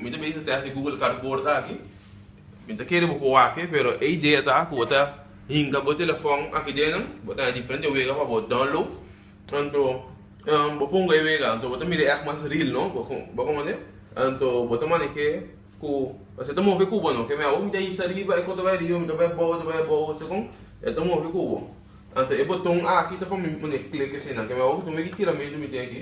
Mi ta bisa testa e Google Cardboard aki. Mi ta kere bo ku wak-e, pero e idea ta ku bo ta hinka bo telefòn aki den, bo ta haya diferente wega pa bo download. Anto bo pongo e wega, bo ta mira e èk mas ril, no? Bo kòmprende? Anto bo ta manej'é ku pasobra e ta move ku bo, no ke mei awor mi ta hisa riba, e kor ta bai riba, mi ta bai bou, e ta bai bou, segun e ta move ku bo. Anto e boton aki ta pa mi pone klik asina, ke mei awor ku tuma e tiramento mi tin aki.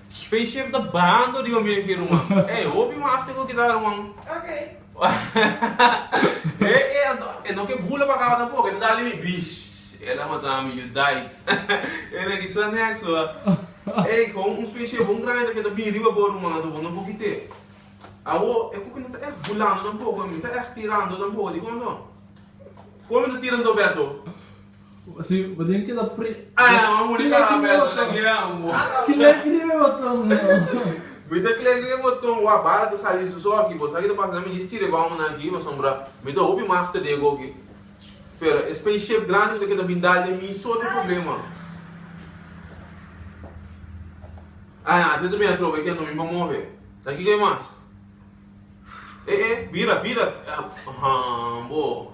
Spaceship ta bando riba mi aki ruman. E hopi mas tin cu kita ruman. Ok. E e anto e no ke bula pa caba tampoco, e ta dali mi bish. E la mata mi, you died. E la ki sa next wa. E con un spaceship bon grandi ta ke ta bini riba bo ruman anto bo no por kite. Awo e coki no ta echt bulando tampoco, mi ta echt tirando tampoco. Dicon anto? Con mi ta tira anto Berto? Así bo tin ki ta pri. Ah bo a muri ka Abel ta na gira amor. Kile kribe boton no. Mi ta kile kribe boton wa bala ta sali su so aki bo sa kita pasa na mi histi riba una aki no sombra mi ta hopi mas te dego aki pero e space ship grandi ku ta kita bin dal den mi so te problema ah a te ta bin atrobe ken no mi pa move sa kiko e mas eh eh bira bira ah bo.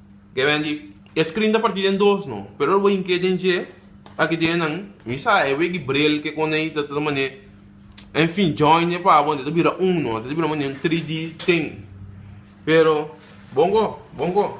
Kebe di, e screen ta parti den dos no, pero ora bo hink'é den dje, aki tin nan, mi sa e wei di braille ke kone ei ta ta manera, enfin join e papo anto ta bira un no, anto ta bira manera un 3D tin, pero bon go, bon go.